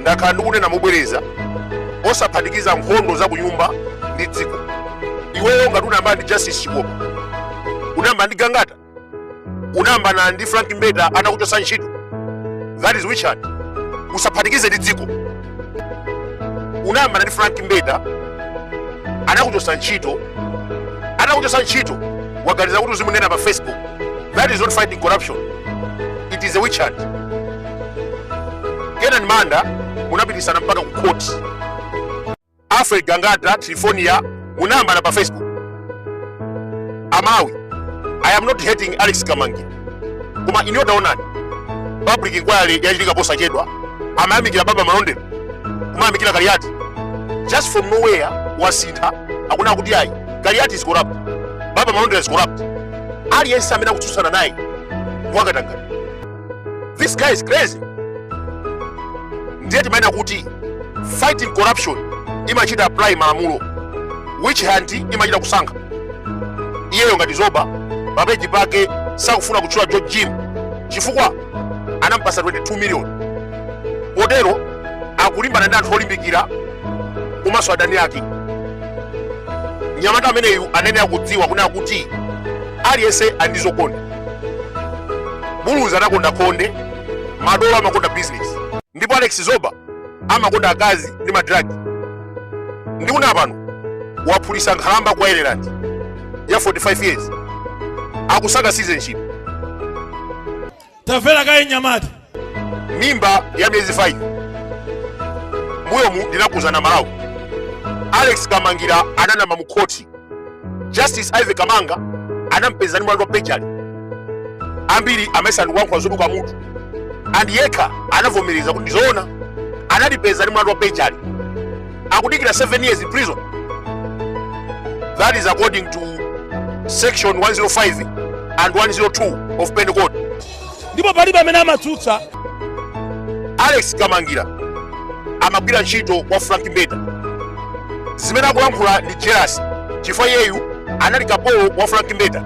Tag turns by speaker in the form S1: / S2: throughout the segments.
S1: ndakhala ndikunena mobwereza osaphatikiza nkhondo za kunyumba ndi dziko iweyo ngati unayambana ndi justice chikopa unayambana ndi gangata unayambana ndi frank mbeta anakuchotsa ntchito that is witch hunt usaphatikize ndi dziko unayambana ndi frank mbeta anakuchotsa ntchito anakuchotsa ntchito waganiza kuti uzimunena pa facebook That is not fighting corruption. It is a witch hunt. Kenan Manda munapititsana mpaka ku court. Alfred Gangata Triphornia munayambana pa Facebook. Amawi, I am not hating Alex Kamangira. Koma inu taonani. Public inquiry yachitika posachedwa. Amayamikira Baba Malondera. Kumayamikira Kaliati. Just from nowhere wasintha akunena kuti ayi. Kaliati is corrupt. Baba Malondera is corrupt. aliyense amene akutsutsana naye wa katangale this guy is crazy ndiye timanena kuti fighting corruption imachita apply malamulo witch hunt imachita kusankha iyeyo ngati zoba papeji pake sakufuna kutchula george jim chifukwa anampasa 22 million potero akulimbana ndi anthu olimbikira komanso adani ake mnyamata ameneyu ayenera kudziwa kunena kuti aliyense ali ndi zokonda buluzi anakonda khonde madolo amakonda business ndipo alex zoba amakonda akazi ndi madragi ndikunena pano waphulitsa nkhalamba ku ireland ya 45 years akusaka citizenship
S2: tamverani kaye nyamata
S1: mimba ya miyezi 5 mbuyomu ndinakuuzani amalawi alex kamangila ananama mu khoti justice ivy kamanga anampeza ndi mlandu wa perjury ambiri amayesa ndikulankhula zoduka mutu and yekha anavomereza kuti ndizoona anandipeza ndi mlandu wa perjury akudikira 7 years in prison that is according to section 105 and 102 of penal code ndipo palibe
S2: amene amatsutsa
S1: alex kamangila amagwira ntchito kwa frank mbeta zimene akulankhula ndi jealous chifukwa iyeyu anali kapolo wa frank mbeta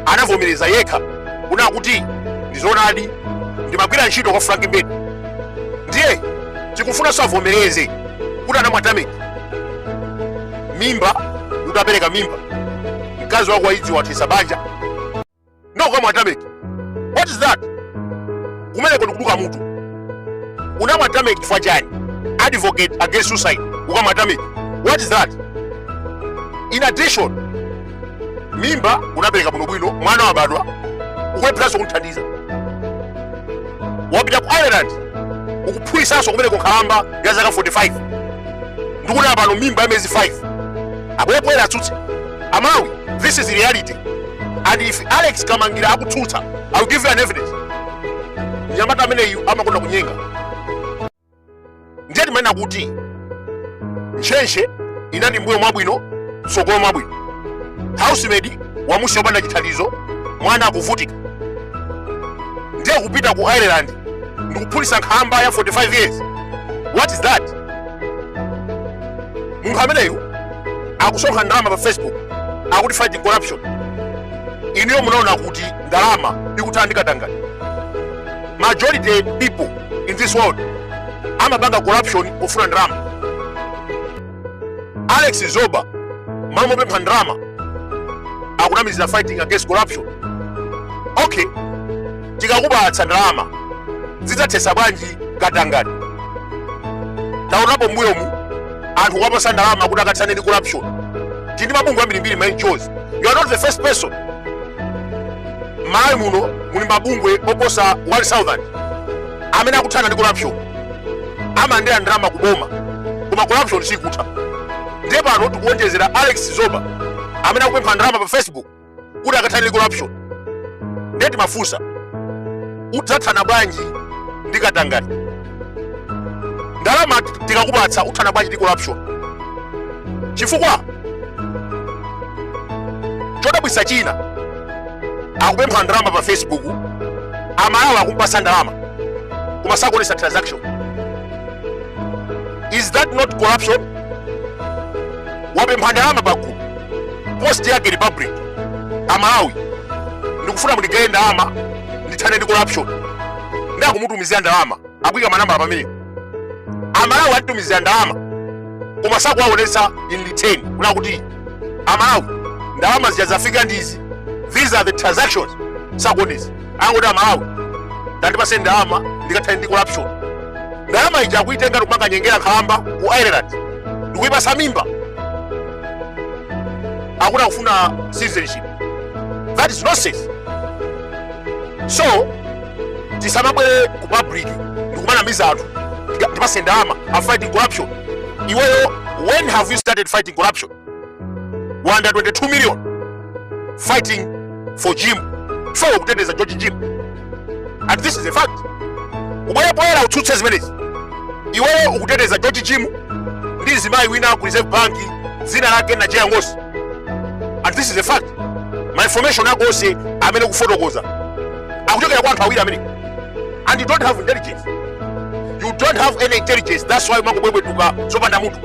S1: anavomereza yekha kunena kuti ndizoonadi ndimagwira ntchito kwa frank mbeta ndiye tikufunanso avomereze kuti anamwa tameki mimba utapereka mimba mkazi wako wadziwa wathetsa banja nde ukamwa tameki what is that kumeneko ndikuduka mutu unamwa tameki chifukwa chani advocate against suicide ukamwa tameki what is that in addition mimba unapereka bwinobwino mwana wabadwa ukulepheranso kumthandiza wapita ku ireland ukuphulisanso kumene kunkhalamba ya zaka 45 ndikunena pano mimba ya miyezi 5 abwere poyera atsutse amawi this is reality and if alex kamangira akutsutsa I will give you an evidence mnyamata ameneyu amakonda kunyenga ndiye timanena kuti ntchentche inati mbuyo mwabwino mtsogolo mwabwino housemaid wamusiya opanda chithandizo mwana akuvutika ndiye kupita ku ireland ndikuphulisa nkhalamba ya 45 years what is that munthu ameneyu akusonkha ndalama pa facebook akuti fighting corruption inuyo munaona kuti ndalama ikuthana ndi katangale majority people in this world amapanga corruption pofuna ndalama alex zoba malo mopempha ndalama akunamizira fighting against corruption okay tikakupatsa ndalama zidzathesa bwanji katangale taonapo mbuyomu anthu kuwapasa ndalama kuti akathane ndi corruption tili ndi mabungwe ambirimbiri ma NGOs you are not the first person m'malawi muno muli mabungwe oposa 1000 amene akuthana ndi corruption amalandira ndalama kuboma koma corruption sikutha ndiye pano tikuwonjezera alex zoba amene akupempha ndalama pa facebook kuti akathane ndi corruption ndiye timafunsa udzathana bwanji ndi katangale ndalama tikakupatsa uthana bwanji ndi corruption chifukwa chodabwisa china akupempha ndalama pa facebook amalawi akumpasa ndalama koma sakuonesa transaction is that not corruption wapempha ndalama pa gulu post yake ya public amalawi ndikufuna mundigayire ndalama ndithane ndi corruption nde akumutumizira ndalama akuika manambala pamenepo amalawi amtumizira ndalama koma sakuwaonesa in return kunena kuti amalawi ndalama zija zafika ndizi these are the transactions sakuonesa angoti amalawi tandipaseni ndalama ndikathane ndi corruption ndalama ija akuitenga ndikumakanyengera nkhalamba ku ireland ndikuipasa mimba akuti akufuna citizenship that is nonsense so tisamabwere ku public ndikumanamiza anthu ndipatse ndalama I'm fighting corruption iweyo when have you started fighting corruption 122 million fighting for jim for kuteteza george jim and this is a fact ubwere poyera utsutse zimenezi iweyo ukuteteza george jim ndi mzimayi wina ku reserve bank dzina lake najeya ngosi and this is a fact ma information ako onse amene ukufotokoza akuchokera kwa anthu awiri amene and you don't have intelligence you don't have any intelligence that's why umangobwebwetuka zopanda mutu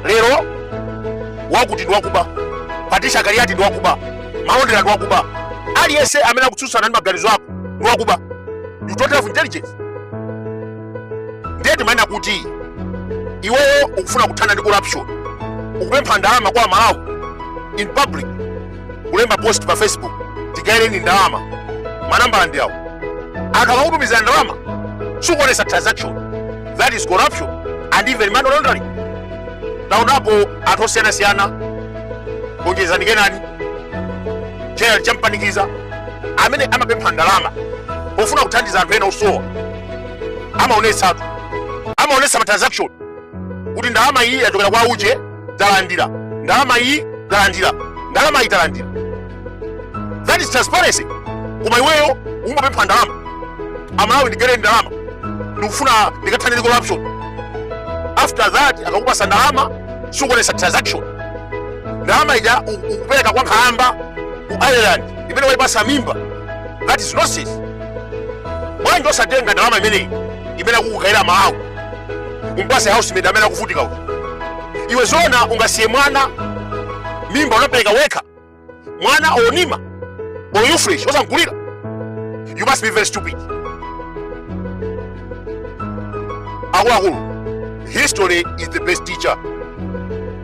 S1: lero wakuti ndi wakuba Patricia Kaliati ndi wakuba malondera ndi wakuba aliyense amene akutsutsana ndi maganizo ako ndi wakuba you don't have intelligence ndiye timanena kuti iweyo ukufuna kuthana ndi corruption ukupempha ndalama kwa amalawi in public kulemba post pa facebook tigaireni ndalama manambala ndi awo anthu akamakutumizira ndalama sukuonesa transaction that is corruption and even money laundering taonapo anthu osiyanasiyana Onjezani Kenani Gerald Kampanikiza amene amapempha ndalama pofuna kuthandiza anthu ena osowa amaonetsatu amaonetsa ma transaction kuti ndalama iyi yachokera kwa uje talandira ndalama iyi talandira ndalama iyi talandira that is transparency koma iweyo umapempha ndalama amalawi ndigaireni ndalama ndikufuna ndikathane ndi corruption after that akakupasa ndalama sukuonesa transaction ndalama ija u- ukupereka kwa nkhalamba ku ireland imene waipasa mimba that is nonsense bwanji osatenga ndalama imeneyi imene akukugayira amalawi umpase housemate amene akuvutika uja iwe zoona ungasiye mwana mimba unapereka wekha mwana omumana or ufresh osamgulira you must be very stupid akuluakulu history is the best teacher